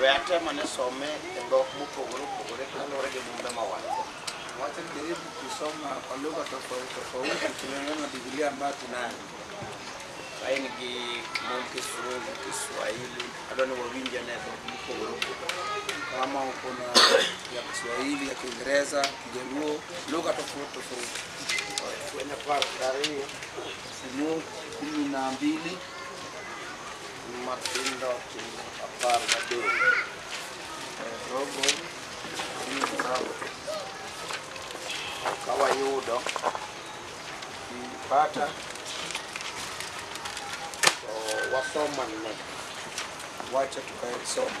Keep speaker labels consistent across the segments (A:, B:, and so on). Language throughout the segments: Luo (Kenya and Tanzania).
A: We atemo ne some e dhok mopogore opogore kaluwore gi mumbe ma wan go. Wacha nijaribu kusoma kwa lugha tofauti tofauti kulingana na Biblia ambayo tunayo. Ka in gi mum Kisungu, Kiswahili, adwa ni wawinje ne dhok mopogore opogore. Kama uko na ya Kiswahili, ya Kiingereza, Kijaluo, lugha tofauti tofauti. Kwenye kwa tarehe Sehemu kumi na mbili Matendo apar gadek rogo ka wayudo bata to wasomo ne wacha tukae somo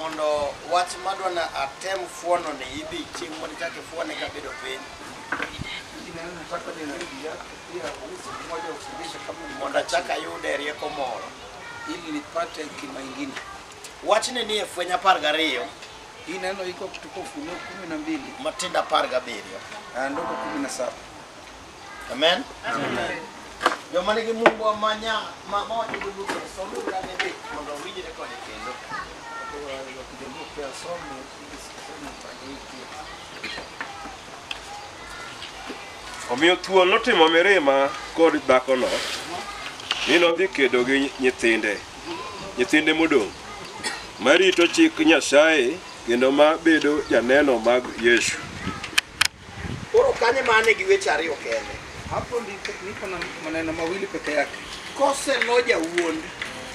A: mondo wach madwa ni atem fuono ni idhi chieng' mondo ichak ifuone kabedo piny mondo achak ayude rieko moro ili nipate hekima ingine. wachni ni e fweny apar gariyo Hii neno iko kutoka Ufunuo kumi na mbili matindo apar gabiriyo na ndogo kumi na saba. Amen. Joma nigi mumbo ma nya ma ma wacho dholuo kendo somo ura ne be mondo owinjre kode kendo. Joluo pia somo gi somo
B: pagi pia. Omiyo thuol notimo mirima kod dhakono, mi nodhi kedo gi nyithinde, nyithinde modong', marito chik Nyasaye kendo ma bedo janeno mag Yesu.
A: Koro kanye mane gi weche ariyo kende. Hapo ndipo
C: niko na maneno mawili peke yake. Kose noja
A: wuond.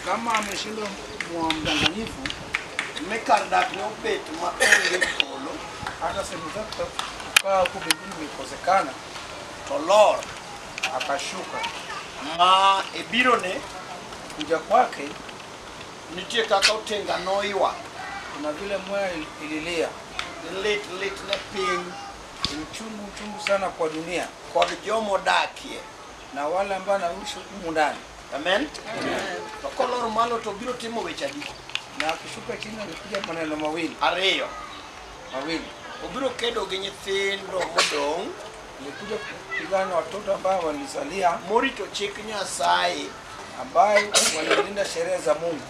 A: Kama ameshindwa
C: mwa mdanganyifu, me
A: kar dak ne obet ma onge polo, hata sehemu zake
C: za kukaa huko mbinguni imekosekana, to
A: lor akashuka
C: ma
A: e birone kuja kwake,
C: nitie
A: kaka otenga noywa, kuna vile
C: mwaya ililia Lit
A: lit ne piny. Uchungu
C: uchungu sana kwa dunia. Kod jomodakie.
A: Na wale
C: ambao wanaishi humu ndani. Amen.
A: To kolor malo to biro timo weche adi? Na akishuka
C: chini anapiga maneno mawili. Ariyo.
A: Mawili.
C: Obiro kedo gi
A: nyithindo modong'. Nikuja
C: kupigana na watoto ambao walisalia. Morito chik
A: Nyasaye. Ambaye
C: wanalinda sheria za Mungu.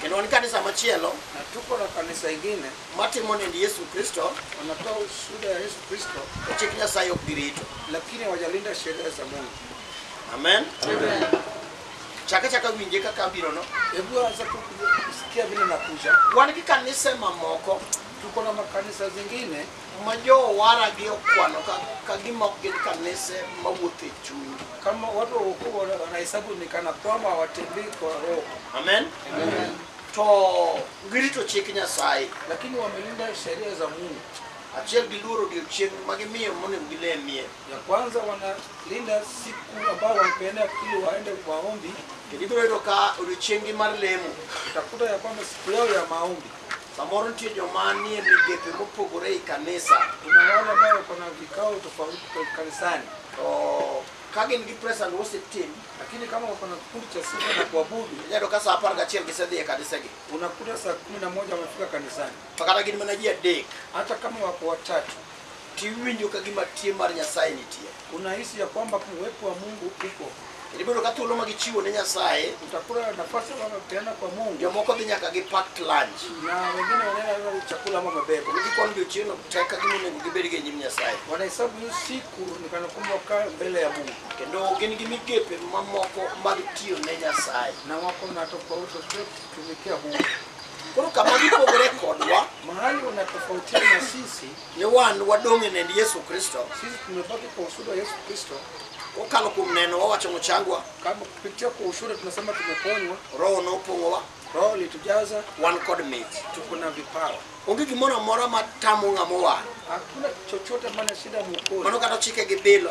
C: Kendo
A: wan kanisa machielo na tuko na
C: kanisa ingine matimo nend Yesu
A: Kristo, wanatoa ushuhuda
C: ya Yesu Kristo, to chik Nyasaye ok
A: girito. lakini hawajalinda
C: sheria za Mungu. Amen.
A: Chaka chaka winje kaka abirono. Hebu anza tu
C: kusikia vile nakuja. Wan gi kanise
A: mamoko Tuko na makanisa
C: zingine ma jowaragi
A: okwano ka, ka gima ok gin kanise mawuotho e chuny kama watu waokovu
C: wana- wanahesabu ni kana kwamba hawatembei kwa roho amen
A: to girito chik nyasaye lakini wamelinda
C: sheria za mungu achiel giluoro
A: odiechieng' ma gimiyo monego gilemie ya kwanza
C: wanalinda siku ambao wamepeana ili waende maombi kendo ibiro yudo ka
A: odiechieng'gi mar lemo utakuta ya kwamba
C: siku yao ya maombi Samoro nitie
A: joma nie migepe mopogore ei kanisa, Kuna wale ambao
C: wako na vikao tofauti kwa kanisani, to
A: ka gin gi praise and worship team, lakini kama wako na
C: kikundi cha sifa na kuabudu, inyalo ka saa apar gachiel
A: gisedhi e kanisegi. unakuta saa kumi
C: na moja wamefika kanisani, To kata gin mana ji
A: adek, hata kama wako
C: watatu tiwinjo
A: ka gima tie mar Nyasaye nitie. unahisi ya kwamba
C: uwepo wa Mungu upo. Ibedo ka thuolo
A: ma gichiwo ne Nyasaye, Utakuwa na nafasi
C: ambayo unapeana kwa Mungu, jomoko dhi nyaka gi
A: packed lunch. na wengine wanaenda
C: hata na chakula ama mabebo, Gikwano odiechieng'no
A: tek ka gima onego gibed gi e nyim Nyasaye. wanahesabu hiyo siku
C: ni kana kwamba wakaa mbele ya Mungu, Kendo gin gi
A: migepe mamoko mag tiyo ne Nyasaye. na wako na
C: tofauti zote kutumikia Mungu. Koro kama
A: gipogore kodwa Mahali wanatofautiana
C: na sisi, ni wan wadong'
A: e nend Yesu Kristo sisi tumebaki kwa
C: ushuhuda wa Yesu Kristo. kokalo kuom
A: neno wawacho mochangwa, Kama kupitia kwa
C: ushuhuda tunasema tumeponywa, Roho nopong'owa,
A: Roho litujaza,
C: wan kod mit.
A: tuko na vipawa.
C: Onge gimoro amora
A: ma tamo ng'ama owar. Hakuna chochote
C: maana shida Mano mwokozi. kata ochike gi bilo.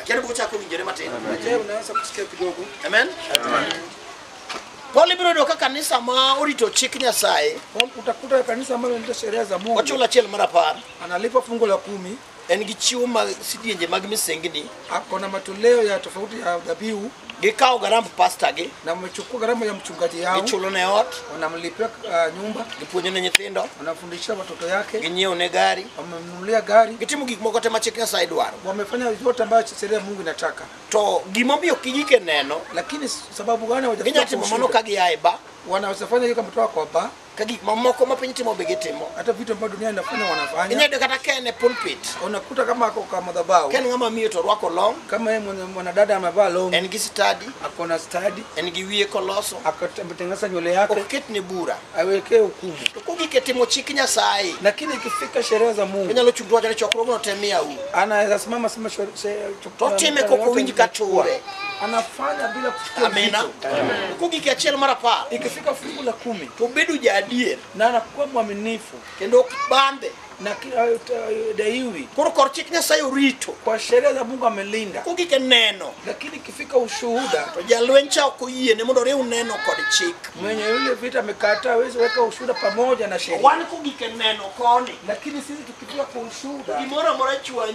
C: Akiani
A: bo chako winjore matin. Je, unaweza kusikia
C: kidogo? Amen.
A: Pole biro yudo ka kanisa ma orito chik Nyasaye Kwa- Utakuta kanisa
C: ambalo linaita sheria za Mungu wachulo achiel mar apar
A: analipa fungu la
C: kumi, en gi chiwo mag
A: sidienje mag misengni ako na matoleo
C: ya tofauti ya dhabihu, Gikawo garamb
A: pasta gi, na mchukua gharama ya
C: mchungaji yao, gichulo ne ot,
A: wanamlipia uh,
C: nyumba, gipuonjo ne nyithindo,
A: wanafundisha watoto
C: yake, ginyiewo ne gari,
A: wamemnunulia gari,
C: gitimo gik moko te ma chik
A: Nyasaye dwaro. wamefanya yote ambayo
C: sheria ya Mungu inataka, To gimomiyo
A: kijike neno, lakini sababu
C: gani ginyalo hawajafika timo mano ka kushindwa?
A: gia e ba, Wanaweza fanya hiyo kama
C: kutoka kwa baa ka gik mamoko ma
A: piny timo be gitimo hata vitu ambavyo dunia inafanya
C: wanafanya inyalo yudo kata ka en e
A: pulpit unakuta kama ako
C: kwa madhabahu ka en ng'ama miyo to orwako
A: long kama yeye mwenye- mwanadada
C: amevaa longi en gi stadi ako
A: na stadi
C: en gi wiye koloso
A: akatengeneza nywele
C: yake ok ketne bura
A: awekee hukumu
C: to kogik e timo
A: chik nyasaye lakini ikifika
C: sherehe za mungu onyalo chung' to wacho ni chokruogno
A: te miyau anasimama sema
C: To otime
A: kok owinj ka ture. anafanya
C: bila kusikia Amina. uzito.
A: Uko gik
C: achiel mar apar.
A: Ikifika fungu la kumi
C: To obedo jaadier
A: na anakuwa
C: mwaminifu kendo ok bambe.
A: na kila
C: eh, daiwi Koro kor chik
A: Nyasaye orito. kwa sheria za Mungu
C: amelinda, Uko gik neno.
A: lakini ikifika
C: ushuhuda To jalweny cha ok
A: oyiene mondo oriw neno kod chik. mwenye yule vita
C: amekataa, hawezi weka ushuhuda pamoja na sheria. Wan ko gik neno
A: koni. Lakini sisi tukifika
C: kwa ushuhuda Gimoro amora chwanyi.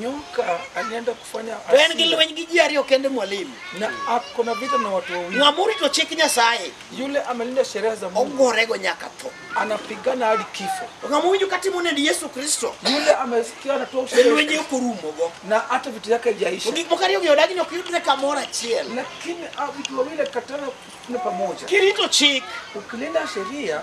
A: Nyuka
C: alienda kufanya To en gi asira. lweny gi ji
A: ariyo kende mwalimu. na ako na
C: vita na watu wawili. Ng'ama orito chik Nyasaye
A: Yule amelinda
C: sheria za Mungu ogorego nyaka tho.
A: anapigana hadi
C: kifo. To ng'ama owinjo ka timo
A: nend Yesu Kristo Yule amesikia
C: anatoa e ushahidi lwenje ok orumogo. na
A: hata vitu yake To
C: haijaisha, gik moko ariyo gi
A: odagi
C: ni ok
A: yudre kamoro achiel. lakini ah, vitu
C: wawili katana
A: kuna
C: pamoja. Kirito chik Ukilinda sheria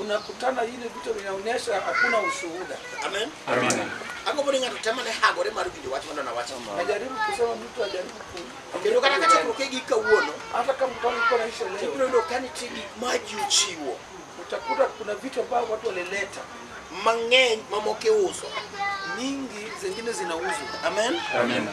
A: unakutana
C: ile vitu vinaonyesha hakuna ushuhuda. Amen.
A: Amina. Agombo ni ng'ato temo ne hagore mar winjo wach mano nawacho. Najaribu kusema mtu
C: ajaribu ku- Kendo kata ka
A: chakruok e gik kawuono, hata kama mtu alikuwa
C: naisha leo, ibiro yudo ka nitie gik
A: ma ji ochiwo utakuta kuna
C: vitu ambavyo watu walileta mang'eny
A: mamoko iuso. nyingi,
C: zingine zinauzwa. Amen. Amina.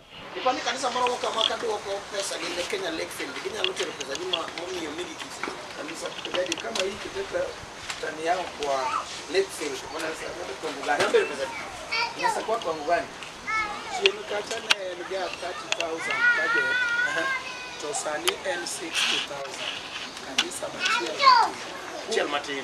C: Ipa ni kanisa
A: moro ka ma kaduoko pesa gi ne Kenya Lake Fund ginyalo tero pesa gi ma momiyo migi kisi. Kanisa kujadi
C: kama hii kiteta tani yao kwa Lake Fund mwana sasa kwa ngani.
A: Ndio pesa. Sasa kwa kwa
C: ngani. Chien
D: kata ne en ga 30000 budget. To sani en 60000. Kanisa machielo.
A: Chel matin.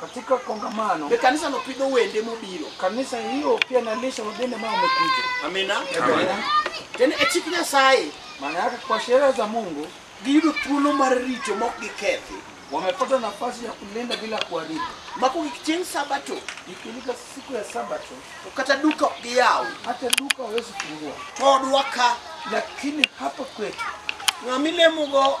A: katika kongamano
C: Be kanisano pidho
A: wende mobiro? kanisa hiyo
C: pia nalisha wageni ambao wamekuja. Amina. Amina.
A: Kendo e chik Nyasaye Maana yake kwa
C: sheria za Mungu giyudo thuolo
A: mar rito ma ok gikethi. wamepata nafasi
C: ya kulinda bila kuharibu. Mako gik chieng'
A: Sabato Ikifika siku
C: ya Sabato, to kata duka ok
A: giyaw. hata duka hawezi
C: fungua, Todwa ka
A: lakini
C: hapa kwetu ng'ama ilemogo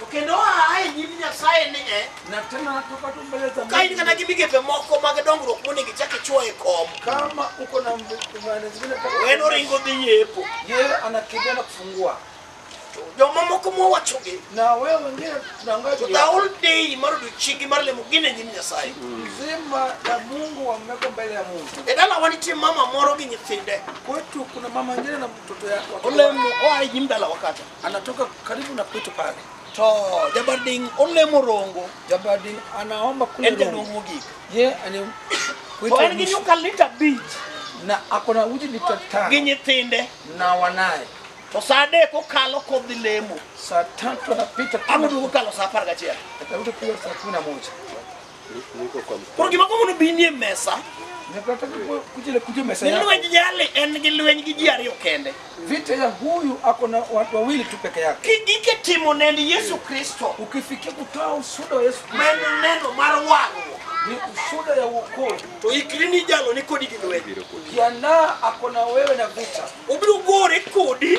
A: To kendo aa e nyim Nyasaye ni e na tena natoka
C: tu mbele za ka in kata Mungu. gi migepe
A: moko mag dongruok monego ichak ichwo e kom Kama uko na
C: mbe- maana zingine kama- en oringo dhi
A: yepo yeye anakimbia
C: na kufungua
A: jomamoko mowachogi na wewe wengine
C: tunaangalia to the whole day
A: mar odiochiengi mar lemo gin e nyim Nyasaye mzima na
C: Mungu wameweka mbele ya Mungu. e dalawa nitie mama
A: moro gi nyithinde Kwetu kuna mama
C: nyingine na mtoto yake. olemo oa e nyim
A: dalawa kata anatoka karibu
C: na kwetu pale to
A: jabarding olemo rongo jabarding
C: anaomba kule en jadong mogik ye
A: ani
C: to en gi
A: nyuka lita abich na akona
C: uji lita tano gi nyithinde
A: na wanaye
C: to saa adek
A: okalo kodhi lemo saa tatu
C: anapita amoduogo kalo saa apar
A: gachiel atarudi kuja saa
C: kumi na moja
A: Niko kwa mkono. Koro gima komono bi nie mesa, Nataka kuwe-
C: kujile kujia mesa ni yako. lwenj jali en gi
A: lweny gi ji ariyo kende. Vita ya huyu
C: ako na watu wawili tu peke yake. Kigike timo nend
A: Yesu Kristo, Ukifikia kutoa
C: ushuhuda wa Yesu Kristo men neno mar
A: wang'o, ni ushuhuda
C: ya wokovu. to ikri ni
A: jalo ni kodi gi lweny. Jiandaa
C: ako na wewe na vita. Obiro gore
A: kodi,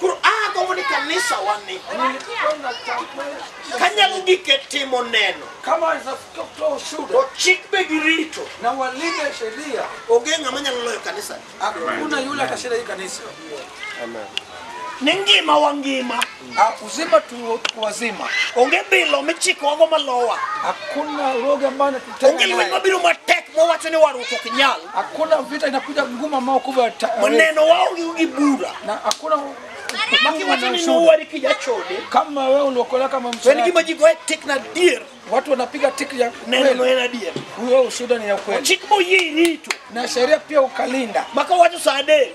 A: koro agombo ni kanisa wani kanyalo gik e timo neno
C: to chik be gi
A: rito
C: onge ng'ama nyalo
A: loyo kanisa Hakuna yule
C: atashinda hii kanisa.
B: ni
A: ngima wa ngima Ah, Uzima tu
C: wazima, onge bilo
A: michikowago malowa hakuna
C: uroga ambayo To onge lweny mabiro matek mowacho
A: ni warruok ok nyal. Hakuna vita inakuja
C: ngumu ambao kubwa ta- Maneno waonge
A: gi bura. na hakuna
C: Makiwacho
A: ni nowari kijachode. kama wewe uliokolewa
C: kama To en msalaba. gima ji goye
A: tik
C: na
A: adier. Watu wanapiga tiki
C: ya Neno no kweli. en adier.
A: Huyo
C: ushuhuda
A: ni ya
C: kweli. Chik moyie irito.
A: Na sheria pia
C: ukalinda. Maka wacho saa adek.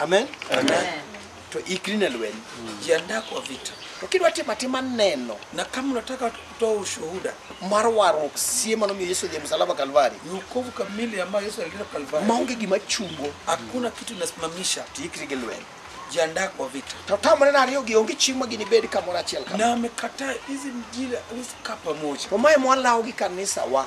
C: amen
A: Amen. to ikri ne lweny jiandaa kwa
C: vita to kidwa timo atima
A: neno na kama unataka
C: kutoa ushuhuda mar warruok
A: sie manomiyo yesu odhi msalaba kalvari ni wokovu kamili
C: ambayo yesu alileta kalvari maonge gima chungo
A: hakuna kitu
C: inasimamisha to ikri gi lweny
A: jiandaa kwa vita
C: to tamre na ariyo gi
A: onge chieng' ma ginibed kamoro achiel kama na amekataa hizi
C: mjila wezi kaa pamoja to mae mwalawo gi
A: kanisawa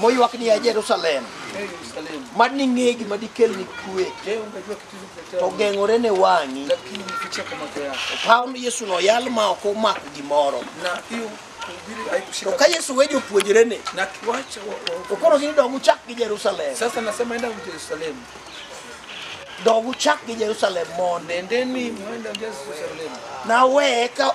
C: moywak ni ya Jerusalem mad ni ng'e gima
A: dikel ni kwe
C: to geng'ore ne
A: wang'i
C: opaw ni Yesu noyal
A: ma ok omako gimoro
C: to ka Yesu we jopuonjrene to koro gini dog
A: uchak gi Jerusalem Sasa nasema enda
C: Jerusalem.
A: dog uchak gi Jerusalem mondo Nendeni mwenda
C: Jerusalem. nawe
A: ka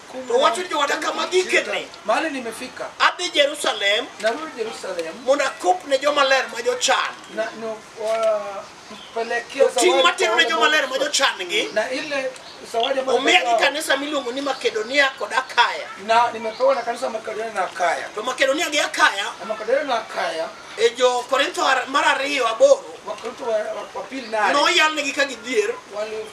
C: To wacho jooda
A: kama gikeni, Mahali nimefika,
C: adhi Jerusalem
A: narudi Yerusalemu
C: mondo akop ne joma
A: ler ma jochan. na no,
C: wa- pelekea To ting' zawadi matero kwa ne wale joma
A: ler ma ambao- jochan-gi, na ile
C: zawadi ambayo omiya gi nimepewa- kanisa miluongo
A: ni Makedonia kod Akaya. na nimepewa na
C: kanisa la Makedonia na Akaya To Makedonia gi Akaya
A: na Makedonia na Akaya
C: e jo Korintho
A: ar- mar ariyo aboro Wakorintho wa, wa,
C: wa pili nane noyalnegi ka gidhier
A: wali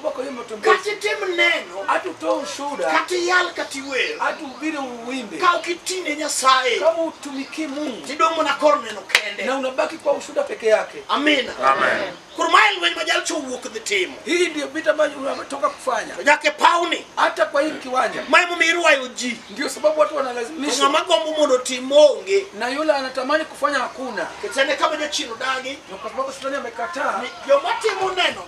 A: Ubako
C: yuma to mbele. kata itim neno
A: Atu to ushuda.
C: kata iyal kata
A: iwer Atu ubire uwimbe.
C: ka ok iti ne
A: nyasaye Kama utumiki
C: Mungu. tidong' mana kor neno
A: kende Na unabaki kwa ushuda
C: peke yake. amina Amen.
A: koro mae lweny ma jalcha owuok dhi timo
C: Hii ndio vita
A: ambayo
C: unatoka kufanya.
A: to nyaka e
C: pawni
A: Hata kwa hii kiwanja.
C: ma emomiyo irwayo
A: ji Ndio sababu watu to
C: wanalazimishwa. ng'ama gombo mondo otim
A: onge Na yule anatamani
C: kufanya hakuna. kechane kama jachien
A: odagi Na kwa sababu shetani
C: amekataa. ni joma timo
A: neno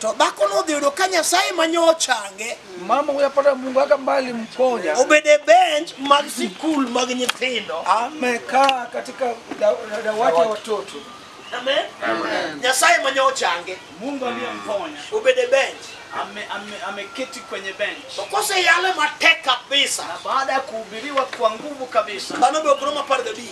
C: To dhako nodhi
A: yudo ka Nyasaye ema nyo ochange Mama huyo apata
C: Mungu aka mbali mponya. obedo e bench
A: mag sikul mag nyithindo. Amekaa
C: katika da- da- dawati ya watoto. Amen.
A: Nyasaye ema nyo ochange Mungu aliyemponya
E: obedo e bench.
A: ame- ame- ameketi
E: kwenye bench, To koseyale matek
A: kabisa, na baada ya
E: kuhubiriwa kwa nguvu kabisa, dhano be ok rom apar
A: gabich.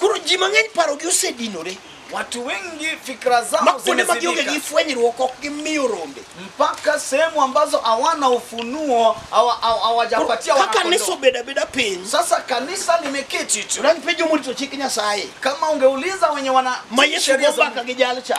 A: koro ji mang'eny parogi osedinore Watu
E: wengi fikra ma zao kuonde ma gionge gi zimezidika
C: fwenyruok ok
E: gimiyo
C: rombe mpaka sehemu
E: ambazo hawana ufunuo hawa- hawa- Koro hawajapatia kaka kanisa wanakondoo. obedo
C: abeda
E: piny
C: Sasa kanisa
E: limeketi tu. unanipenjo morito chik
C: nyasaye Kama ungeuliza
E: wenye wana ma yesu sheria go za mbaka Mungu,
C: gi jalcha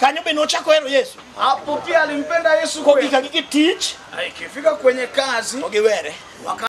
E: Kanyo be nochako
C: hero Yesu. Hapo pia alimpenda
E: Yesu kweli.
C: Kogika gi
E: tich, Na ikifika kwenye
C: kazi to
E: giwere. waka